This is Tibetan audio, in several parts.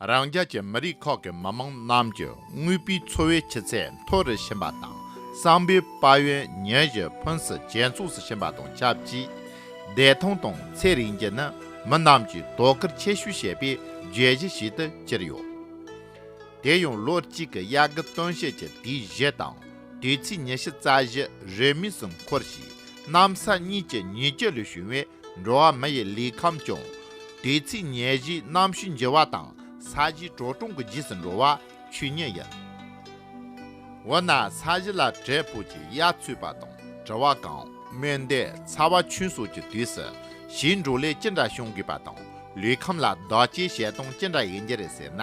རང་རྒྱལ་གྱི་མི་རིགས་ཁག་གི་མི་དམངས་རྣམས་ཀྱི་དངོས་པོའི་འཚོ་བའི་ཆུ་ཚད་མཐོ་རུ་ཕྱིན་པ་དང་བསམ་པའི་དཔལ་ཡོན་ཉིན་བཞིན་ཕུན་སུམ་ཇེ་ཚོགས་སུ་ཕྱིན་པ་དང་ཆབས་ཅིག་བདེ་ཐང་དང་ཚེ་རིང་རྒྱུ་ནི་མི་རྣམས་ཀྱིས་དོ་ཁུར་ཆེ་ཤོས་བྱེད་པའི་བརྗོད་གཞི་ཞིག་ཏུ་གྱུར་ཡོད། དེ་ཡང་ལོ་གཅིག་གི་དབྱར་དགུན་སྟོན་དཔྱིད་ཀྱི་དུས་བཞི་དང་དུས་ཚིགས་ཉི་ཤུ་རྩ་བཞི་རེས་མོས་སུ་འཁོར་ཞིང་གནམ་ས་གཉིས་ཀྱི་ཉིས་བརྒྱ་ལས་བྱུང་བའི་འགྲོ་བ་མི་ཡི་ལུས་ཁམས་སྐྱོང། དུས་ཚིགས་ཉེར་བཞིའི་གནམ་གཤིས་འགྱུར་བ་དང་ས་གཞིའི་བྲོ་གྲོང་གི་རྗེས་སུ་འགྲོ་བ་ཆུ་གཉིས་ཡིན། འོ་ན་ས་གཞི་ལ་དྲིལ་བུ་གྱི་གཡའ་ཚུད་པ་དང་དྲི་བ་གང་སྨོས་འདས་ཚ་བ་ཆུན་སོགས་ཀྱི་དུས་སུ་གཞིའི་འགྲོ་ལས་ཅི་འདྲ་བྱུང་དགོས་པ་དང་ལུས་ཁམས་ལ་བདག་གཅེས་བྱེད་སྟངས་ཅི་འདྲ་ཡིན་རྒྱུ་རེད་ཟེར་ན།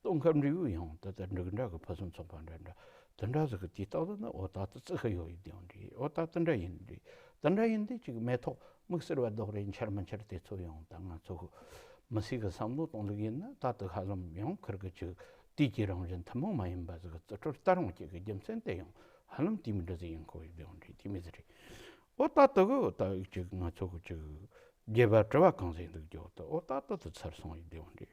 སྟོང་ཁམས་འབྲས་བུའི་ཡང་ད་ལྟ་འབྲུག་འདྲ་གི་ཕུན་སུམ་ཚོགས་པ་འདྲ་འདྲ་དུ་འདྲ་ཟེར་གི་དེ་རྟག་ཏུ་ན་འོ་ད་ད་ཙི་ཧི་ཡོད་ཡིན་དེའང་འདྲ་འོ་ད་ད་འདྲ་ཡིན་འདྲ་ད་འདྲ་ཡིན་དེ་གཅིག་མེ་ཐོག་མིག་སེར་བ་རྡོག་རེད་འཆར་མི་འཆར་དེ་ཚོ་ཡང་ད་ང་ཚོ་མི་སེར་གི་བསམ་བློ་གཏོང་ལུགས་ཡིན་ན་རྟག་ཏུ་ཧ་ལམ་ཡང་འཁུར་གི་ཅིག་དུས་ཀྱི་རང་བཞིན་ཐུན་མོང་མ་ཡིན་པ་ཟེར་གི་རྩི་ཁྲོལ་རྟ་རོང་སྐྱེས་གི་རྒྱུ་མཚན་དེ་ཡང་ཧ་ལམ་དུས་མི་འདྲ་ཟིག་ཡིན་ཁོ་ཡིན་དེའང་འདྲ་དུས་མི་ཟིག་རེད་འོ་ད་ད་གི་འོ་ད་གཅིག་ང་ཚོ་གི་ཅིག་རྒྱལ་བ་དྲི་བ་གང་ཟེར་འདུག་རྒྱོ་ད་འོ་ད་ད་ད་ཚར་སོང་ཡིན་དེའང་འདྲ།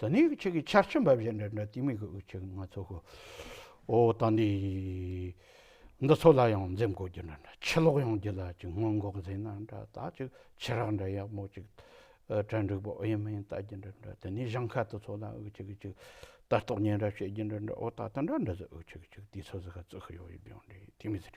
ད་ནི་ཁྱེད་ཀྱིས་ཆར་ཆེན་འབབ་བཞིན་འདྲ་འདྲ་ཏིང་མི་དགོས་ཁྱེད་ང་ཚོ་ཧོ། ཨོ་ད་ནི། འདི་ཚོ་ལ་ཡང་འཛེམ་དགོས་རྒྱུ་འདྲ་འདྲ་ཕྱི་ལོག་ཡོང་རྒྱུ་ལ་ཅིག་སྔོན་འགོག་འཛིན་ན་འདྲ་ད་ཅིག་ཕྱི་རགས་འདྲ་ཡག་མོ་ཅིག་གྲལ་འགྲིག་པོ་ཨེ་མིན་བལྟ་རྒྱུ་འདྲ་འདྲ་ད་ནི་བཞང་ཁ་དེ་ཚོ་ལ་ཨོ་ཅིག་ཅིག་ལྟ་རྟོག་ཉེ་འདྲ་བྱེད་རྒྱུ་འདྲ་འདྲ་ཨོ་ད་དེ་འདྲ་འདྲ་ཟེར་ཨོ་ཅིག་ཅིག་དེ་ཚོ་ཟེར་ཁ་རྩི་ཤི་ཡོང་ཡོད་ཡོང་འདྲ་ཡིན་ཏིང་མི་ཟེར།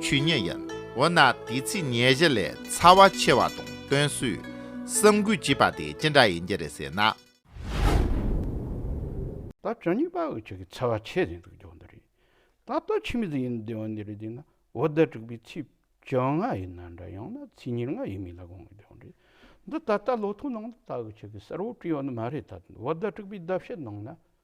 ཆུ་ཉེ་ཡིན། འོ་ན་དེའི་ཚེ་ཉེ་བཞི་ལས་ཚ་བ་ཆེ་བ་དང་བསྟུན་གསུས་སམ་གུས་བགྱིས་པ་དེ་ཅི་འདྲ་ཡིན་གྱི་རེད་ཟེར་ན། ད་བཅུ་གཉིས་པ་འུ་ཅག་གི་ཚ་བ་ཆེ་ཟིན་འདུག་ཇོ་འདི་རེད། ད་ལྟ་ཕྱི་མི་ཟིག་ཡིན་འདི་འོ་འདི་རེད་ཟེར་ན་འོ་ཟླ་དྲུག་པའི་ཚེས་བཅོ་ལྔ་ཡིན་ན་འདྲ་ཡང་ན་ཚེས་ཉེར་ལྔ་ཡིན་མིན་ལ་དགོངས་ཀྱི་ཇོ་འདི་ད་ལྟ་ལོ་ཐོའི་ནང་དུ་ད་འུ་ཅག་གི་གསར་བུ་བྲིས་ཡོད་ནི་མ་རེད་ད་འོ་ཟླ་དྲུག་པའི་ཟླ་ཕྱེད་ནང་ན་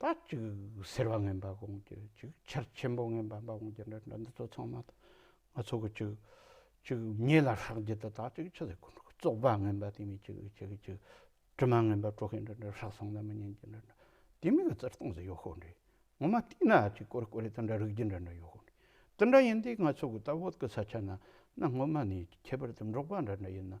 ད་ཅིག་ཟེར་བ་ངན་པ་གོང་གི་ཅིག་ཆར་ཆེན་པོ་ངན་པ་འབའ་གོང་གི་འདྲ་འདྲ་འདི་ཚོ་ཚང་མ་དང་ང་ཚོ་གི་ཅིག་ཅིག་ཉེ་ལ་ཧྲག་རྒྱུ་དེ་དག་ཅིག་ཆུ་ཟེར་ཁོ་ན་གི་བཙོག་པ་ངན་པ་དེ་མིན་ཅིག་ཅིག་ཅིག་དྲི་མ་ངན་པ་དཀྲོག་མཁན་འདྲ་འདྲ་ཧྲག་སོང་ན་མི་ཉན་གྱི་འདྲ་འདྲ་དེ་མིན་གི་བཙིར་སྟངས་སུ་ཡོད་ཤོག་འདྲི་ངོ་མ་བལྟས་ན་ཅིག་ཀོ་རེ་ཀོ་རེ་དང་འདྲ་རིག་རྒྱུ་འདྲ་འདྲ་ཡོད་ཤོག་འདྲི་དེ་འདྲ་ཡིན་དུས་ང་ཚོ་གི་ད་བོད་ཀི་ས་ཆ་ན་ན་སྔོན་མ་ནས་ཁྱད་པར་དུ་འབྲོག་པ་འདྲ་འདྲ་ཡིན་ན་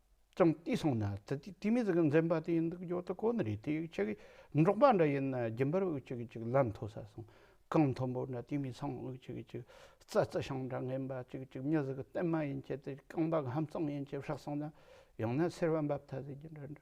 ཀྱང་བལྟས་སོང་ན་ཙི་ཙི་དེ་མི་ཟིག་གི་འཛེམ་པ་དེ་ཡིན་འདུག་ཡོད་དོ་ཁོ་ནི་རེད་དེ་ཡིག་ཆ་གིས་འབྲོག་པ་འདྲ་ཡིན་ན་རྒྱུན་པར་དབུགས་ཅིག་ཅིག་ལམ་མཐོ་ས་སོང་གངས་མཐོན་པོ་འདྲ་དེ་མི་ཚང་དབུགས་ཅིག་ཅིག་རྩྭ་རྩི་ཤིང་འདྲ་ངན་པ་ཅིག་ཅིག་མྱི་ཟིག་གི་སྟེང་མ་ཡིན་གྱི་དེ་རྐང་པ་གི་ཧམ་གཙང་ཡིན་གྱི་བཤགས་སོང་ན་ཡང་ན་སེར་བ་འབབ་ཐ་ཟིག་གི་འདྲ་འདྲ་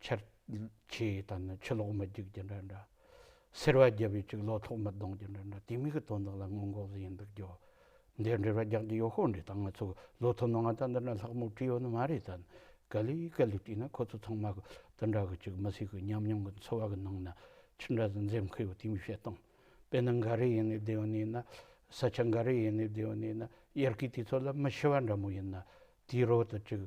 ཁྱེད་ཀྱིས་ད་ནི་ཆུ་ལོག་མི་རྒྱུག་རྒྱུ་འདྲ་འདྲ། སེར་བ་རྒྱབ་ཡོད་ཅིག་ལོ་ཐོག་མི་གདོང་རྒྱུ་འདྲ་འདྲ་དེ་མིག་གི་དོན་དག་ལ་སྔོན་འགོག་བཟོ་ཡི་འདུག་རྒྱུ། འདིར་འབྲེལ་བ་རྒྱག་རྒྱུ་ཡོད་ཤོག་འདྲི་དང་ང་ཚོས་ལོ་ཐོ་ནང་ང་ད་འདི་འདྲ་ལྷག་མོ་བྲིས་ཡོད་ནི་མ་རེད་དམ། ག་ལི་ག་ལི་བྲིས་ན་ཁོ་ཚོ་ཚང་མ་གི་དེ་འདྲ་གི་ཅིག་མི་སྲིད་གི་ཉམས་མྱོང་གི་འཚོ་བ་གི་ནང་ན་ཅི་འདྲ་ཟིག་འཛེམ་གི་ཡོད་དེ་མི་བཤད་སྟངས་དཔེ་ན་འགའ་རེ་ཡིན་ནའི་བདེ་བ་ནས་ན། ས་ཆ་འགའ་རེ་ཡིན་ནའི་བདེ་བ་ནས་ན་དབྱར་ཁའི་དུས་ཚོད་ལ་མི་ཤི་བ་འདྲ་མོ་ཡིན་ན་དེའི་རོལ་དུ་ཅིག།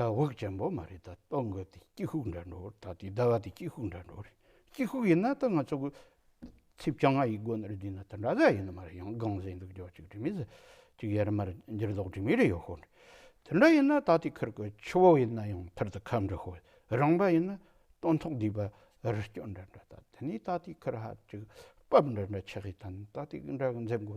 ད་བག་ཅན་པོ་མ་རེད་ད་ལྟོགས་འགོ་དེ་སྐྱི་ཧུག་འདྲ་འགྲོ་རེད་ད་དུས་ད་བ་དེ་སྐྱི་ཧུག་འདྲ་འགྲོ་རེད་སྐྱི་ཧུག་ཡིན་ན་ད་ང་ཚོ་གོ་ཚིབ་བྱང་ང་ཡི་སྒོ་ནས་བསྡུས་ན་ད་འདྲ་ཟ་ཡི་ནི་མ་རེད་ཡང་དགང་ཟེ་འདུག་འཇོག་ཅིག་དྲི་མི་ཟ་ཅིག་ཡར་མར་འགྱུར་ལྡོག་དྲི་མི་རེད་ཡོད་ཧོ་དེ་འདྲ་ཡིན་ན་ད་དུས་ཁར་གོ་ཆུ་བོ་ཡིན་ན་ཡང་ཕར་དུ་ཁ་འབྲི་ཧོ་རང་པ་ཡིན་ན་སྟོན་ཐོག་སྡུད་པ་རི་སྐྱོ་འདྲ་འདྲ་ད་དེ་ནས་ད་དུས་ཁར་ཧ་ཅིག་བབ་འདྲ་འདྲ་ཆགས་ཡི་ད་ནི་ད་དུས་འདྲ་གི་འཛེམ་དགོ་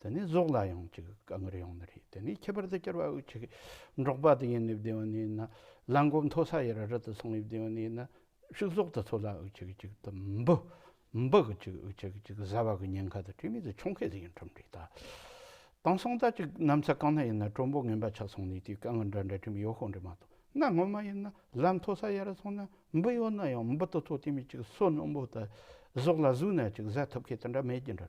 དེ་ནས་ཟོག་ལ་ཡང་ཅིག་དཀའ་ངལ་ཡོང་ནི་རེད་དེ་ནས་ཁྱད་པར་དུ་སྐྱར་བ་དབུགས་ཆད་འགྲོགས་པ་དེ་ཡིན་ནི་བདེ་བ་ནི་ཡིན་ན་གླང་སྒོམ་མཐོ་ས་ཡི་ར་རི་དུ་སོང་ནི་བདེ་བ་ནི་ཡིན་ན་ཕྱུགས་ཟོག་དུ་འཚོ་ལ་དབུགས་ཆད་ཅིག་དུ་འབུ་འབུ་གི་ཅིག་དབུགས་ཆད་ཅིག་བཟའ་བ་གི་ཉེན་ཁ་དང་བྲལ་མེད་དུ་ཆོག་མཁན་དེ་ཡིན་ཁྲིམས་སྒྲིག་དང་དང་སྲང་ལྟ་ཅིག་གནམ་ས་གང་ན་ཡིན་ན་གྲོ་འབུ་ངན་པ་ཆགས་སོང་ནི་དེའི་དཀའ་ངལ་འདྲ་འདྲ་ཁྲིམས་ཡོད་ཤོག་འདྲ་མ་གཏོགས་གནའ་སྔོན་མ་ཡིན་ན་ལམ་མཐོ་ས་ཡི་ར་སོང་ན་འབུ་ཡོད་ན་ཡང་འབུ་དུ་འཚོ་དེ་མིན་ཅིག་སོ་ནམ་བུ་དང་ཟོག་ལ་ཟུག་ན་ཅིག་བཟའ་ཐུབ་མཁན་དེ་འདྲ་མེད་ཀྱི་འདྲ་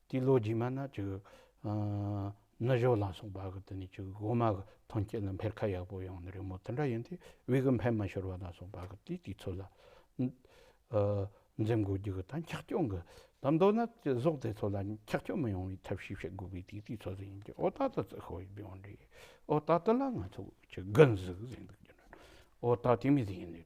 དེའི་ལོ་རྗེས་མ་ན་ནི་ཞོ་ལ་སོགས་པ་གི་དེ་ནས་སྒོ་མ་གི་ཐོན་སྐྱེད་ལ་འཕེལ་ཁ་ཡག་པོ་ཡོང་ནི་རེད་མོད་དེ་འདྲ་ཡིན་དུས་དབྱིག་གི་འཕེལ་མ་ཤོར་བ་ལ་སོགས་པ་གི་དུས་དེ་ཚོ་ལ་འཛེམ་དགོས་རྒྱུ་གི་དང་འཁྱག་སྐྱོ་གི་དང་མདོར་ན་ཟོག་དེ་ཚོ་ལ་འཁྱག་སྐྱོ་མི་ཡོང་བའི་ཐབས་ཤེས་བྱེད་དགོས་པའི་དུས་དེ་ཚོ་ལ་ཡིན་གྱི་ཨོ་ད་ད་ཙི་ཤོ་ཡི་བེའུ་འདྲེ་ཨོ་ད་དེ་ལ་ང་ཚོ་ཀྱི་དགུན་གཟིག་ཟེར་འདུག་གི་འོ་ད་དེ་མི་ཟེར་ཡིན་ནི།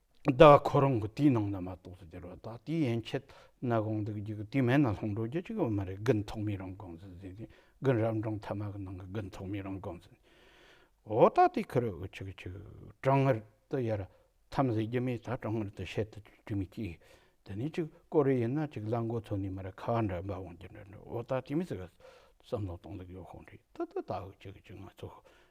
བདག་ཁོ་རང་གི་དེའི་ནང་ན་མ་གཏོགས་སུ་འགྱུར་བ་དག་དེའི་ཡན་ཆད་ན་དགོངས་འདུག་རྒྱུ་དེ་མེད་ན་ལྷུང་འགྲོ་རྒྱུ་གཅིག་ཡང་མ་རེད་དགུན་ཐོག་མའི་རང་དགོངས་ཟིན་ཟིན་ཟིན་དགུན་རབ་འབྲིང་ཐ་མ་གི་ནང་གི་དགུན་ཐོག་མའི་རང་དགོངས་ཟིན་འོ་ད་དེ་ཁུ་རུ་འུ་ཆུག་ཆུག་གྲང་ངར་དུ་ཡར་འཐམ་ཟེར་རྒྱུ་མེད་ད་གྲང་ངར་དུ་བཤད་དུ་འཇུག་མི་སྐྱིད་དེ་ནས་ཅིག་ཀོ་རེ་ཡིན་ན་ཅིག་གླ་མགོ་ཐོན་ནས་མ་རེད་ཁ་བ་འདྲ་འབབ་འོང་རྒྱུ་འདྲ་འདྲ་འོ་ད་དེ་མི་ཟེར་བསམ་བློ་གཏོང་ལེགས་ཡོང་ཤོག་འདྲི་ད་ད་ད་འུ་ཆུག་ཆུག་ང་ཚོ་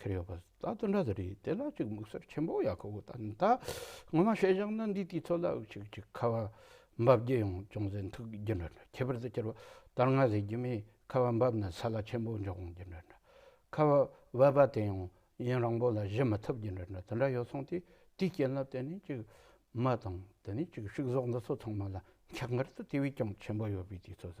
ཁེར་ཡོད་པ་ད་དུ་འདྲ་ཟེར་ཡིན་དེ་ལ་ཅིག་དམིགས་བསལ་ཆེན་པོ་ཡག་ཁོ་ཐ་ན་ངོ་མ་བཤད་བཞག་ན་འདིས་དུས་ཚོད་ལ་དབུགས་ཆུག་ཆུག་ཁ་བ་འབབ་རྒྱུ་ཡང་ཅུང་ཟད་འཐུག་རྒྱུ་འདྲ་འདྲ་ཁྱད་པར་དུ་སྤྱིར་བ་དར་ནག་ཟེར་རྒྱུ་མིས་ཁ་བ་འབབ་ན་ས་ལ་ཆེན་པོ་འཇོག་འོང་རྒྱུ་འདྲ་འདྲ་ཁ་བ་འབབ་པ་དེ་ཡང་ཡུན་རིང་པོ་ལ་གཞི་མི་ཐུབ་རྒྱུ་འདྲ་འདྲ་དེ་འདྲ་ཡོད་སོང་དུས་དེའི་རྐྱེན་ལ་བརྟེན་ནས་ཅིག་མི་དང་དེ་ནས་ཅིག་ཕྱུགས་ཟོག་འདི་ཚོ་ཚང་མ་ལ་འཁྱག་མགར་དུ་དེ་བས་ཀྱང་ཆེན་པོ་ཡོད་པའི་དུས་ཚོད་ཟ